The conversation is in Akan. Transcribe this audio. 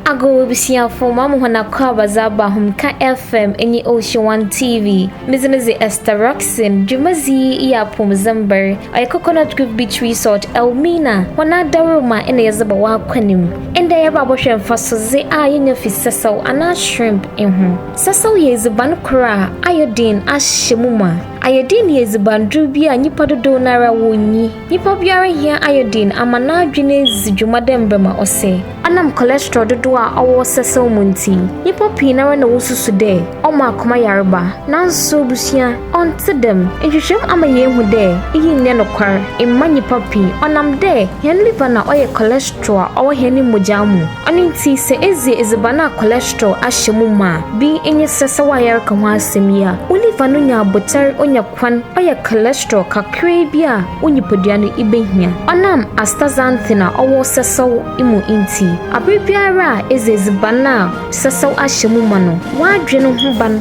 Ago abusuafo ma mo hɔn akɔ abadza aba hom ka FM nye Ocean One TV. Medze me dze Esther Roxin, dwumadzi yi yɛ apɔwmudzen mber. Ɔyɛ Coconut Grove Beach Resort, Elmina, hɔn adaworoma na yɛdze bɔ w'akwan mu. Ndɛ yɛreba abɔhwɛ mfasodze a yenya fi sɛsɛw anaa shrimp ho. Sɛsɛw yɛ edziban kor a iodine ahyɛ mu ma. Iodine yɛ edzibandur bi a nyimpa dodow no ara wonnyi. Nyimpa biara hia iodine ama n'adwen edzi dwuma dɛ mbrɛ ma ɔsɛ. Ɔnam cholesterol dodow a ɔwɔ sɛsɛw mu ntsi, nyimpa pii noara na wosusu dɛ ɔma akoma yarba. Naaso ebusua, Ɔnntse dɛm. Nhwehwɛmu ama yeehu dɛ iyi nnyɛ nokwar mma nyimpa pii ɔnam dɛ hɛn liver na ɔyɛ cholesterol a ɔwɔ hɛn mbɔgyaa mu. Ɔno ntsi sɛ edzi edziban a cholesterol ahyɛ mu mã a, bi nye sɛsɛw a yɛreka ho asɛm yi a, wo liver no nya abotar onya kwan ɔyɛ cholesterol kakraa bi a wo nyimpadua no ibehia. Ɔnam astaxanthin a ɔwɔ sɛsɛw mu ntsi, aber biara a edzi edziban a sɛsɛw ahyɛ mu mã no, w'adwen ho ban